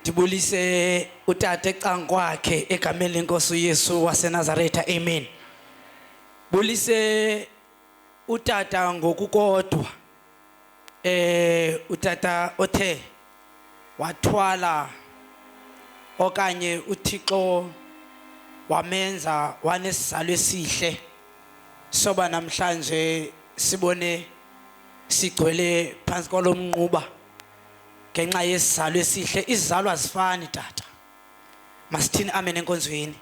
ndibulise utata ecankwakhe egameni lenkosi uyesu wasenazaretha amen bulise utata ngokukodwa eh utata othe wathwala okanye uthixo wamenza wanesizalo esihle soba namhlanje sibone sigcwele phansi kwalomnquba ngenxa yesizalo esihle izizalo azifani tata masithini amen enkonzweni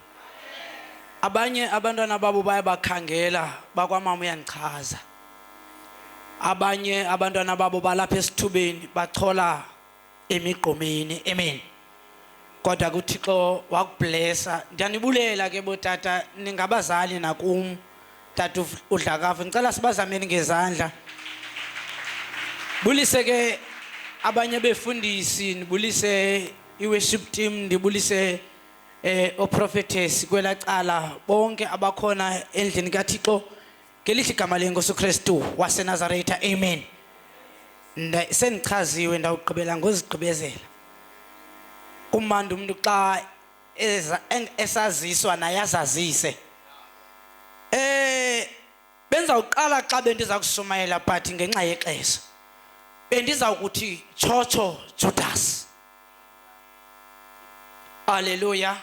abanye abantwana babo baye bakhangela bakwamama uyandichaza abanye abantwana babo balapha esithubeni bachola emigqomeni amen kodwa kuthixo wakublesa ndiyanibulela ke botata ningabazali nakum tata udlakavu ndicela sibazameni ngezandla bulise ke abanye befundisi ndibulise i-worship team ndibulise eh oprophetess kwela cala bonke abakhona endlini kaThixo ngelihle igama lenkosi uKristu waseNazaretha amen sendichaziwe ndawugqibela ngozigqibezela kumandi umuntu xa esaziswa naye azazise eh bendizawuqala xa bendiza kushumayela but ngenxa yexesha bendizawukuthi tshotsho judas aleluya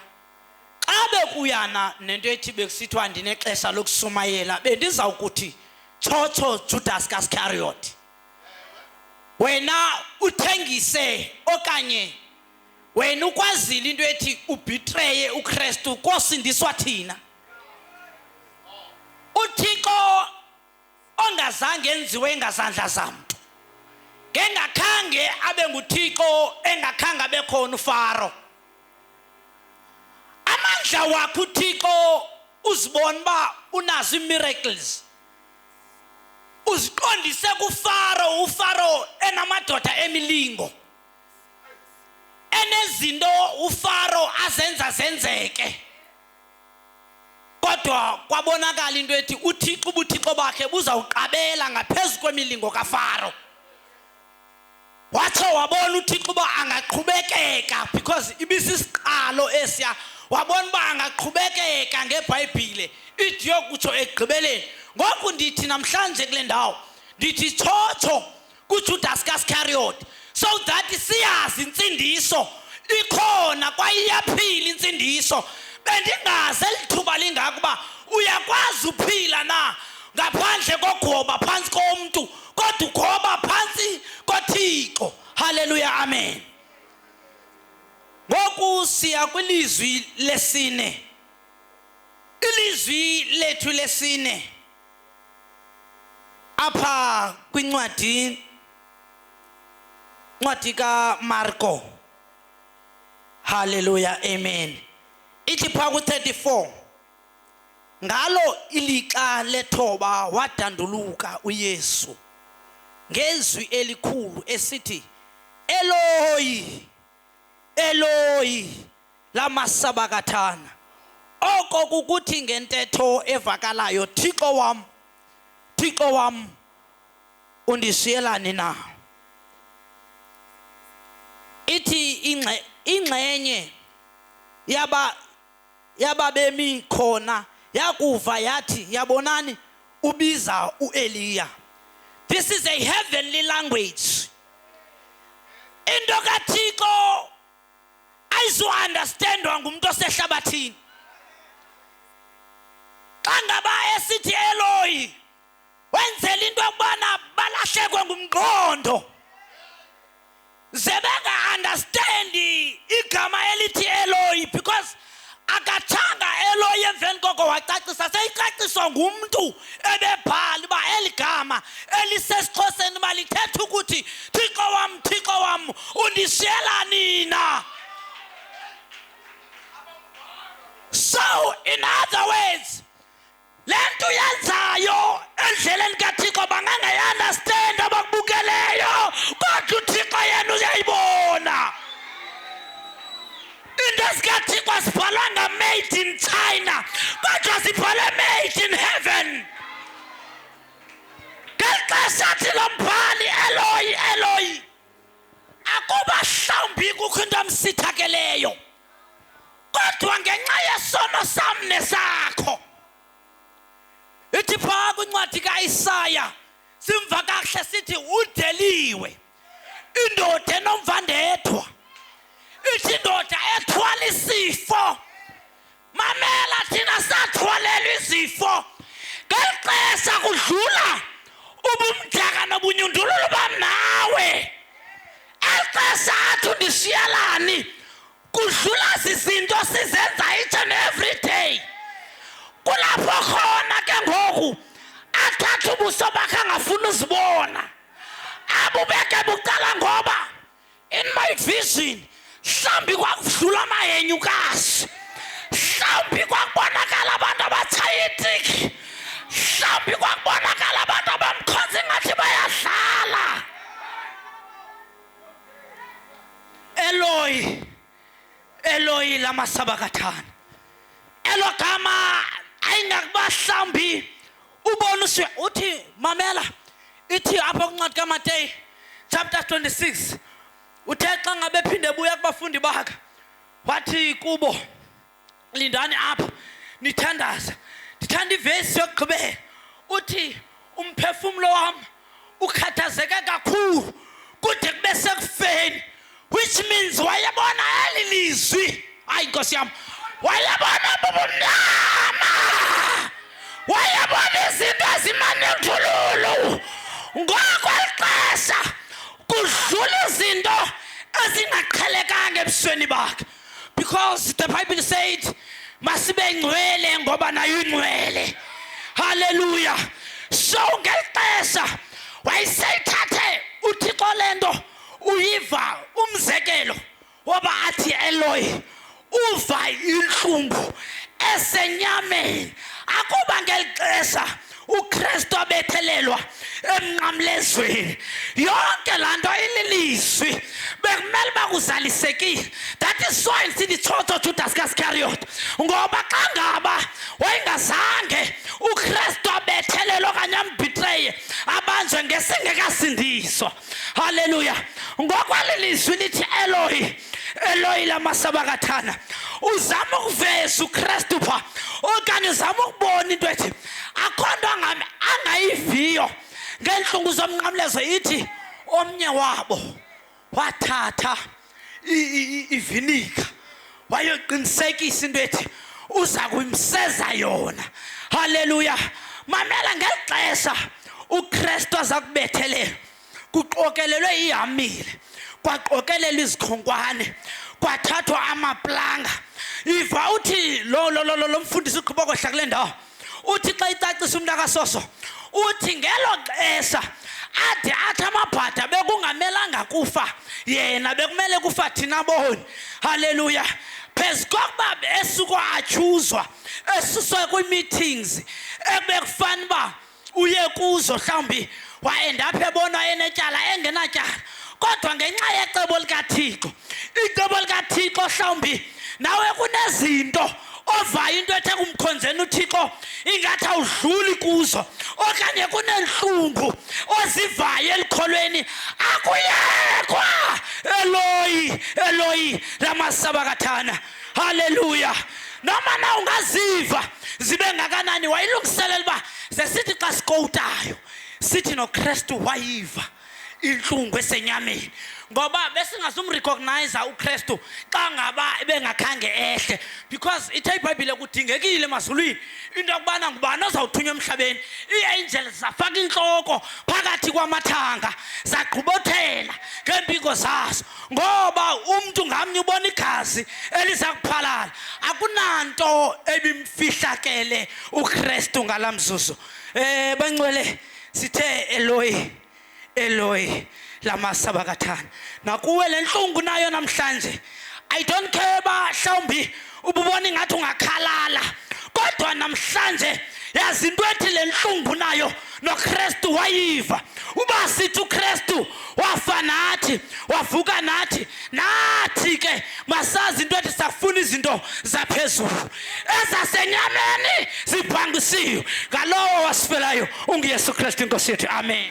xa bekuyana nento ethi bekusithiwa ndinexesha lokushumayela bendizawukuthi tshotsho judas kaskariot wena uthengise okanye wena ukwazile into ethi ubhitreye uKristu kosindiswa thina uThixo ongazange enziwe ngazandla zamntu ngengakhange abe nguThixo engakhange abe khona uFaro amandla wakho uThixo uzibona ba unazo imiracles uziqondise kufaro ufaro enamadoda emilingo enezinto ufaro azenza zenzeke kodwa kwabonakala into ethi uthixo ubuthixo bakhe buzawuqabela ngaphezu kwemilingo kafaro watsho wabona uthixo uba angaqhubekeka because ibisisiqalo esiya wabona uba angaqhubekeka ngebhayibhile ithi yokutsho ekugqibeleni ngoku ndithi namhlanje kule ndawo ndithi tshotsho kuJudas kaScariot so that siyazi insindiso ikhona kwaye iyaphila insindiso bendingaze lithuba lingaka uba uyakwazi uphila na ngaphandle kogoba phantsi komntu kodwa ugoba phantsi kothixo haleluya amen ngoku siya kwilizwi lesine ilizwi lethu lesine apha kwincwadi ncwadi kamarko halleluya amen ithi phaa ku-34 ngalo ilixa lethoba wadanduluka uyesu ngezwi elikhulu esithi eloyi eloyi la masabakathana oko kukuthi ngentetho evakalayo thixo wam thixo wam undishiyelani na ithi ingxenye yaba yababemi khona yakuva yathi yabonani ubiza uEliya this is a heavenly language into kaThixo ayizuunderstandwa ngumntu osehlabathini xa ngaba esithi eloyi wenzela into yokubana balahlekwe ngumqondo ze benga-understandi igama elithi eloyi because akatshanga eloye emveni koko wacacisa seyicaciswa ngumntu ebebhala uba eli gama elisesixhoseni uba lithetha ukuthi thixo wam thixo wam undishiyela nina so in other words le nto uyenzayo endleleni kathixo bangangayiandastendi abakubukeleyo kodwa uthixo yena uyayibona into ezikathixo azibhalwanga made in china kodwa zibhalwe made in heaven ngeli xesha athi lo mbhali eloyi eloyi akuba hlawumbi kukho into amsithakeleyo kodwa ngenxa yesono sam nesakho ithi phaa kwincwadi kaisaya simva kakuhle sithi udeliwe indoda enomvandedwa ithi indoda ethwala isifo mamela thina sathwalelwa izifo ngeli xesha kudlula ubumdaka nobunyundululu bam nawe exesha athi undishiyelani kudlula zizinto sizenza each and every day kulapho khona ke ngoku athatha ubuso bakhe angafuni uzibona abubeke bucala ngoba in my vision mhlawumbi kwakudlula amayenyukazi mhlawumbi kwakubonakala abantu abatshaya itiki mhlawumbi kwakubonakala abantu abamkhonza ingathi bayadlala Eloi, Eloi lama sabakatan. Elo gama ayingakubahlambi ubona uswe uthi mamela ithi apha kuncwadi kamateyi chapter 26 uthe xa ngabe phinde buya kubafundi bakhe wathi kubo lindani apha nithandaza ndithanda ivesi yokugqibela uthi umphefumlo wam ukhathazeke kakhulu kude kube sekufeni which means wayebona eli lizwi hayi nkosi yam wayebona bubumnyama wayebona izinto ezimanethululu ngoko lixesha kudlula izinto ezingaqhelekanga ebusweni bakhe Because the Bible said masibe ngcwele ngoba nayo ingcwele. Hallelujah. So ngelixesha wayiseyithathe uThixo lento uyiva umzekelo woba athi Eloi uva inhlungu esenyameni akuba ngelixesha ukristu abethelelwa emnqamlezweni yonke laa nto ililizwi bekumele uba kuzalisekile that is so isithi tshotsho judas kaskariot ngoba xa ngaba wayengazange ukristu abethelele okanye ambhitreye abanjwe ngesingekasindiswa halleluya ngokwalilizwi lithi elohi eloyi lamasabakathana uzama ukuveza ukristu pha okanye uzama ukubona into ethi akho nto angayiviyo ngeentlungu zomnqamlezo ithi omnye wabo wathatha ivinika wayoqinisekisa into ethi uza kuyimseza yona halleluya mamela ngeli xesha ukristu aza kubethelela kuqokelelwe ihamile kwaqokelelwa izikhonkwane kwathathwa amaplanga iva uthi lo lo lo lo mfundisi uqhuba kwehla kule ndawo uthi xa icacisa umntu akasoso uthi ngelo xesha ade athi amabhada bekungamelanga kufa yena bekumele kufa thina boni haleluya phezu kokuba esuke atyhuzwa esuswe kwii-meetings ekubekufana uba uye kuzo mhlawumbi wayendapha ebona enetyala engenatyala kodwa ngenxa yecebo likathixo icebo likathixo mhlawumbi nawe kunezinto ovayo into ethe kumkhonzeni uthixo ingathi awudluli kuzo okanye kunentlungu ozivayo elikholweni akuyekwa eloyi eloyi lamasabakathana haleluya noma na ungaziva zibe ngakanani wayilungiselela uba sesithi xa sikowutayo sithi nokristu wayiva intlungu esenyameni ngoba besingazumrecognize ukristu xa ngaba ebengakhange ehle because ithe ibhayibhile kudingekile emazulwini into yokubana ngubani ozawuthunywa emhlabeni iiangel zafaka intloko phakathi kwamathanga zagqubothela ngeempiko zazo ngoba umntu ngamnye ubona igazi eliza kuphalala akunanto ebimfihlakele ukristu ngala mzuzu um bancwele sithe eloyi eloyi lamasaba kathana nakuwe le ntlungu nayo namhlanje i don't care uba mhlawumbi ububona ingathi ungakhalala kodwa namhlanje yazi into ethi le ntlungu nayo nokristu wayiva uba sithi ukristu wafa nathi wavuka nathi nathi ke masazi into ethi safuna izinto zaphezulu ezasenyameni zibhangisiwe ngalowo wasifelayo unguyesu kristu inkosi yethu amen